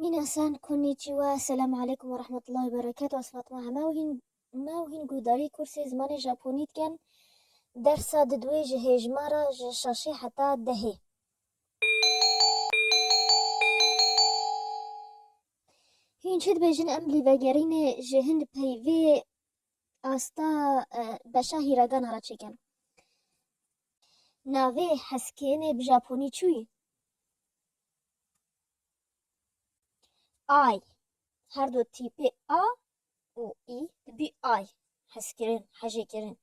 Minasan konnichiwa, selam aleykum ve rahmetullahi ve berekatuh ez Fatma heme û hîn me û hîn guhdarî kursê zimanê Japonî dikin. Dersa di duwê ji hêjmara ji şaşê heta dehê. Hîn çi dibêjin em lê vegerîne ji hin di peyvê asta beşa hîragana re çêkin. Navê heskênê bi Japonî çûyî? Ay, her du tîpê a û î dibî ay, hezkirin, hejêkirin.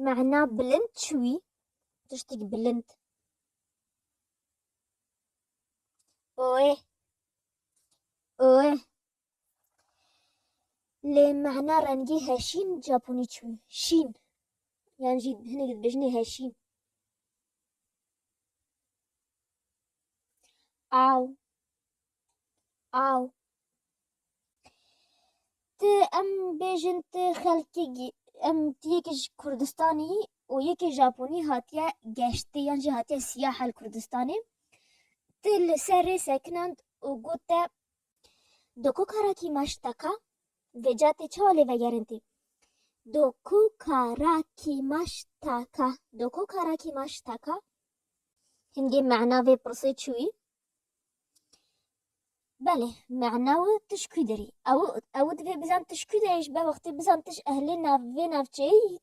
Mana bilind çi wî? Tiştîk bilind. Oê, oê. Lê mehna rengî heşîn Japonî çi bû? Şîn. Yan jî hinek dibêjinê heşîn. Aw. Aw. Ti em bêjin ti xelkê em ti yekê ji Kurdistanê yî û yekê Japonî hatiye geştê yan jî hatiye siyaha li Kurdistanê. Ti li ser rê sekinand û got te Do ku kara kî maş taka vêca tê çawa lê vegerin tê. Do ku kara kî maş taka do ku kara kî maş taka hingê mena vê pirsê çiwî Belê mena wi tişkû dirî ew ew divê bizan tişkû dirê ji ber wextê bizan tij ehlê nav vê navçeyê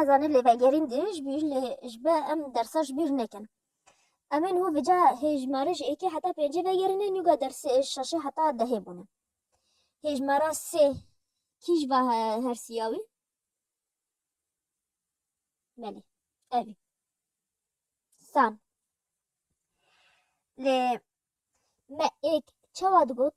Ez anî lê vegerîn dirêj bû lê ji ber em dersa ji bîr nekin. Em ên hû vêca hêjmarê ji êkê heta pêncê vegerîne nûga dersê şeşê heta dehê bûne. Hêjmara sê kîj va hersiya wî? Belê ev î. San. Lê me êk çawa digot?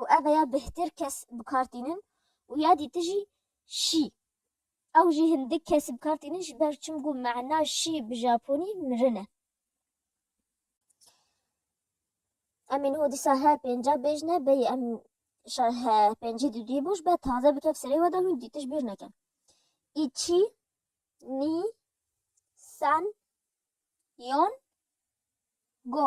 û ev ya bêhtir kes bi kar tînin û ya dî tijî şî. Ew jî hindik kes bi kar tînin ji ber çim ku mana şî bi japonî mirin e. Em ê niho dîsa he pênca bêj ne bêyî em şa he pêncî di duyê boş be taze bikef serê we de hûn dî tij bîr neke. Îçî, nî, san, yon, go.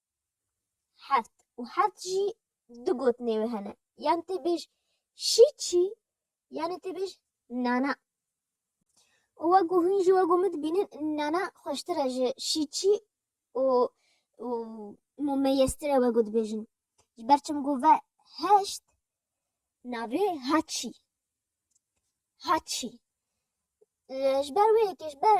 Heft û heft jî du gotinê wê hene. Yan tê bêj şî çî yanê tê bêj nana. û we ku hûn jî we ku min dibînin nana xweştir e ji şî çî û û mumeyestir e we ku dibêjin. Ji ber çim ku ve heşt navê haçî. Haçî. Ji ber wê yekê ji ber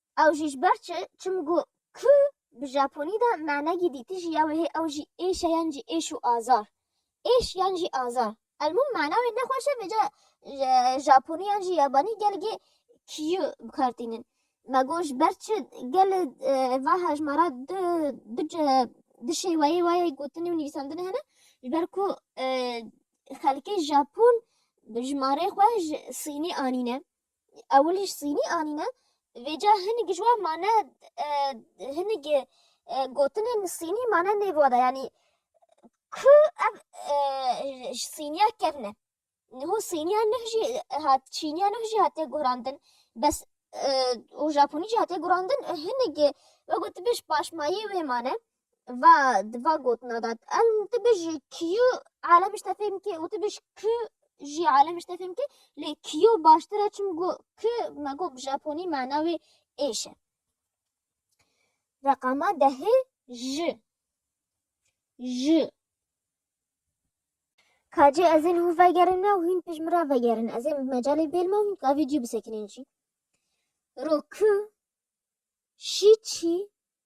Ew jî ji ber çi? Çim got kü bi Japonî de manegî dîtijî ya wêhê ew jî êş e yan jî êş û azar. Êş yan jî azar. Elmûm mana wê ne xweş e vêca Japonî yan jî Yabanî gelgê kyu bi kar tînin. Me got ji ber çi? Gel va hejmara du du du şêweyê wa yê gotinê û nivîsandinê hene ji ber ku xelkê Japon bi jimarê xwe ji Sînê anîne. Ewil ji sînî anîne. Vêca hinik ji wan mane hinik gotinên sînî mane nê vada yanî ku ev ji sîniya kevne. Niho sîniya nuh jî hat çîniya nuh jî hatiye guhrandin bes û japonî jî hatiye guhrandin hinik we gotibê ji paşmayê wê mane. Va di va gotina de em tu bijî kiyo alem ji te fêm bike û tu bij ki jî alem ji te fêm bike lê kiyo baştir e çim got ki me got bi japonî mana wê êş e. Reqama dehê ji ji Kacê ez ên hû vegerin me û hîn pêş min re vegerin. Ez ên bi mecalê bêl me û hîn gavî cî bisekinên jî. Ro ki şî çî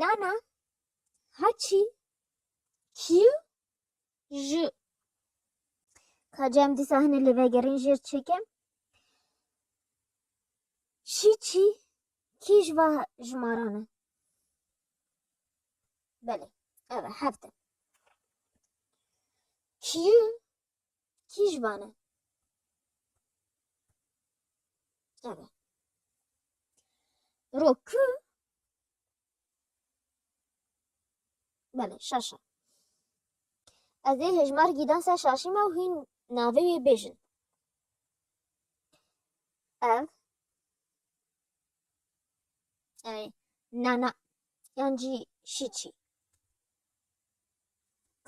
Nana haçî kî ji ka cem dîsa hine lê vegerîn jêr çêkim şî çî kî ji va jimaran e belê ev e hefte kî Kî ji wan e? Ebe. Ro ku Bele, şaşa. Ez ê hejmar gîdan ser şaşî me û hîn navê wê bêjin. Ev Ey, nana yan jî şîçî.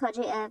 Kacê ev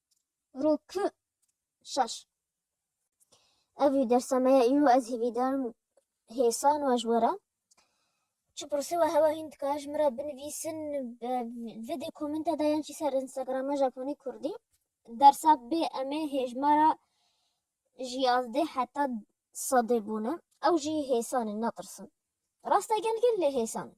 Rokü şeş. Ev wî dersa me ye îro ez hêvî darim hêsan we ji we re. Çi pirsî we hewa hîn dikare ji min re binivîsin vê dê komenta de yan jî ser Instagrama Japonî Kurdî. Dersa bê em ê hêjmara ji yazdeh heta sedê bûne. Ew jî hêsan in netirsin. Rast e gelgel lê hêsan in.